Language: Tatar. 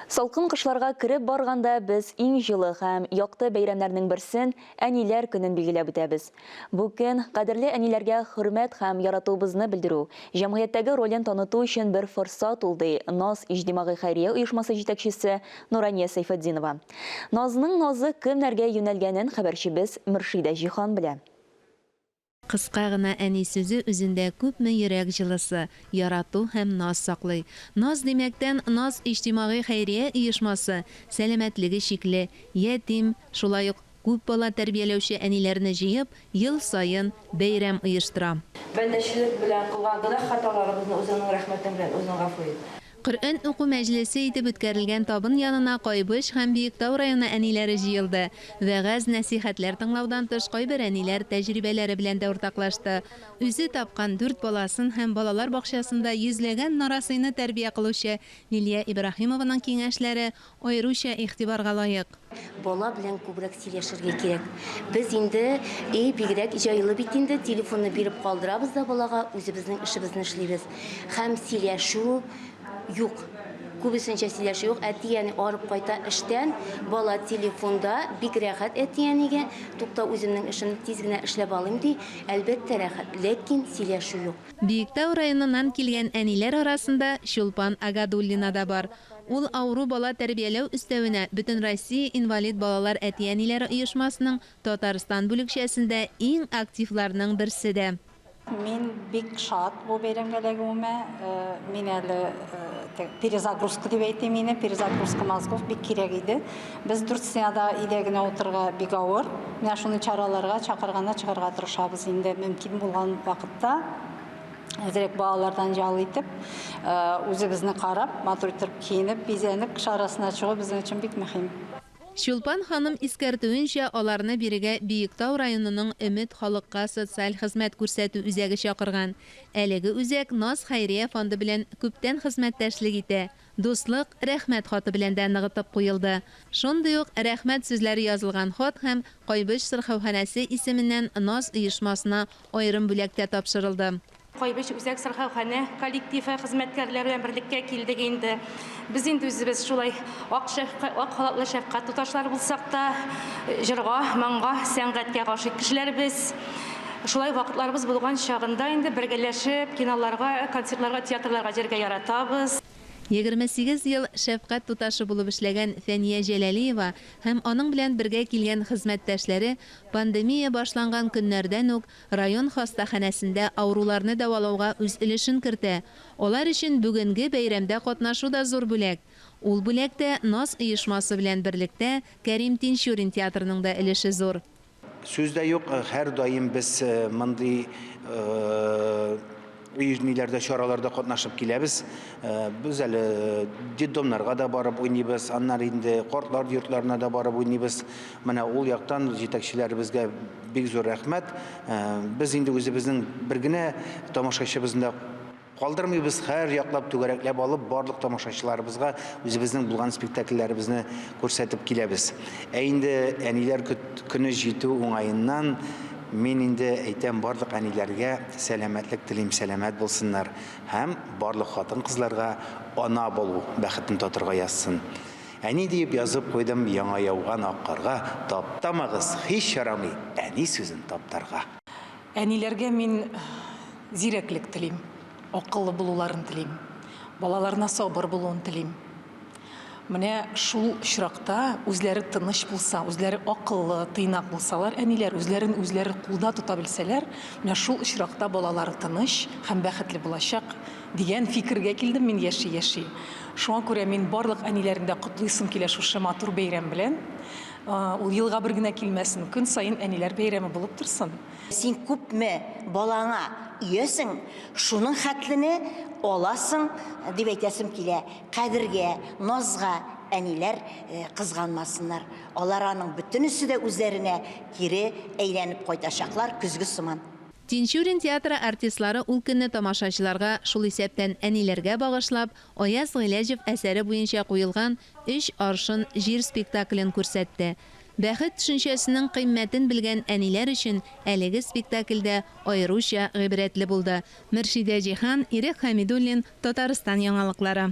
Салкын кышларга кереп барганда без иң җылы һәм якты бәйрәмнәрнең берсен, Әниләр көнен билгеләп үтәбез. Бу көн, кадерле әниләргә хөрмәт һәм яратуыбызны белдерү, җәмгыятьтәге ролен таныту өчен бер форсат ул, ди Наз иҗтимагый хәйрия оешмасы җитәкчесе Нурания Сәйфетдинова. Назның назы кемнәргә юнәлгәнен хәбәрчебез Мөршидә Җиһан белә. Кыска гына әни сүзе үзендә күпме йөрәк җылысы, ярату һәм наз саклый. Наз димәктән, Наз иҗтимагый хәйрия оешмасы, сәламәтлеге чикле, ятим, шулай ук күп бала тәрбияләүче әниләрне җыеп, ел саен бәйрәм оештыра. Бәндәчелек белән кылган гөнаһ-хаталарыбызны үзеңнең рәхмәтең белән үзең гафу ит. Коръән уку мәҗлесе итеп үткәрелгән табын янына Кайбыч һәм Биектау районы әниләре җыелды. Вәгазь-нәсыйхәтләр тыңлаудан тыш кайбер әниләр тәҗрибәләре белән дә уртаклашты. Үзе тапкан дүрт баласын һәм балалар бакчасында йөзләгән нарасыйны тәрбия кылучы Лилия Ибраһимованың киңәшләре аеруча игътибарга лаек. Бала белән күбрәк сөйләшергә кирәк. Без инде өй бигрәк җайлы бит инде, телефонны биреп калдырабыз да балага, үзебезнең эшебезне эшлибез. Һәм сөйләшү юк. Күбесенчә сөйләшү юк. Әти-әни арып кайта эштән, бала телефонда, бик рәхәт әти-әнигә, тукта, үземнең эшемне тиз генә эшләп алыйм, ди. Әлбәттә рәхәт, ләкин сөйләшү юк. Биектау районыннан килгән әниләр арасында Чулпан Агадуллина да бар. Ул авыру бала тәрбияләү өстәвенә Бөтенроссия инвалид балалар әти-әниләре оешмасының Татарстан бүлекчәсендә иң активларның берсе дә. Мин бик шат бу бәйрәмгә эләгүемә. Мин әле перезагрузка дип әйтим ине, перезагрузка мозгов бик кирәк иде. Без дүрт стенада өйдә генә утырырга бик авыр. Менә шундый чараларга чакырганнар чыгарга тырышабыз инде мөмкин булган вакытта. әзерәк балалардан ял итеп, э, үзебезне карап, матур итеп киенеп, бизәнеп, кыш арасына чыгу безнең өчен бик мөһим. Чулпан ханым искәртүенчә, аларны бирегә Биектау районының Өмет халыкка социаль хезмәт күрсәтү үзәге чакырган. Әлеге үзәк Наз хәйрия фонды белән күптән хезмәттәшлек итә, Дуслык, рәхмәт хаты белән дә ныгытып куелды. Шундый ук рәхмәт сүзләре язылган хат һәм Кайбыч сырхауханәсе исеменнән наз оешмасына аерым бүләк тә тапшырылды. Кайбыч үзәк сырхауханә коллективы хезмәткәрләре белән берлеккә килдек инде. Без инде үзебез шулай ак шәфкать, ак халатлы шәфкать туташлары булсак та, җырга, моңга, сәнгатькә гашыйк кешеләр без. Шулай вакытларыбыз булган чагында инде бергәләшеп киноларга, концертларга, театрларга йөрергә яратабыз. Егерме сигез ел шәфкать туташы булып эшләгән Фәния Җәләлиева һәм аның белән бергә килгән хезмәттәшләре пандемия башланган көннәрдән үк район хастаханәсендә авыруларны дәвалауга үз өлешен кертә. Алар өчен бүгенге бәйрәмдә катнашу да зур бүләк. Ул бүләктә Наз оешмасы белән берлектә Кәрим Тинчурин театрының да өлеше зур. Сүз дә юк, һәрдаим без мондый оешмиләрдә, чараларда катнашып киләбез. Без әле детдомнарга да барып уйныбыз, аннары инде картлар йортларына да барып уйныбыз. Менә ул яктан җитәкчеләребезгә бик зур рәхмәт. Без инде үзебезнең бер генә тамашачыбызны да Калдырмыйбыз, һәр яклап түгәрәкләп алып, барлык тамашачыларыбызга үзебезнең булган спектакльләребезне күрсәтеп киләбез. Ә инде әниләр көне җитү уңаеннан мин инде әйтәм, барлык әниләргә сәламәтлек телим, сәламәт булсыннар һәм барлык хатын-кызларга ана булу бәхетен татырга язсын. Әни диеп язып куйдым яңа яуган ак карга, таптамагыз, һич ярамый әни сүзен таптарга. Әниләргә мин зирәклек телим, акыллы булуларын телим, балаларына сабыр булуын телим. Менә шул очракта үзләре тыныч булса, үзләре акыллы, тыйнак булсалар, әниләр үзләрен үзләре кулда тота белсәләр, менә шул очракта балалары тыныч һәм бәхетле булачак, дигән фикергә килдем мин яши-яши. Шуңа күрә мин барлык әниләрне дә котлыйсым килә шушы матур бәйрәм белән. Ул елга бер генә килмәсен, көн саен әниләр бәйрәме булып торсын. Син күпме балаңа иәсең, шуның хәтлене аласың, дип әйтәсем килә. Кадергә, назга әниләр кызганмасыннар. Алар аның бөтенесе дә үзләренә кире әйләнеп кайтачаклар, көзге сыман. Тинчурин театры артистлары ул көнне тамашачыларга, шул исәптән әниләргә багышлап, Аяз Гыйләҗев әсәре буенча куелган Өч аршын җир спектаклен күрсәтте. Бәхет төшенчәсенең кыйммәтен белгән әниләр өчен әлеге спектакль дә аеруча гыйбрәтле булды. Мөршидә Җиһан, Ирек Хәмидуллин, Татарстан яңалыклары.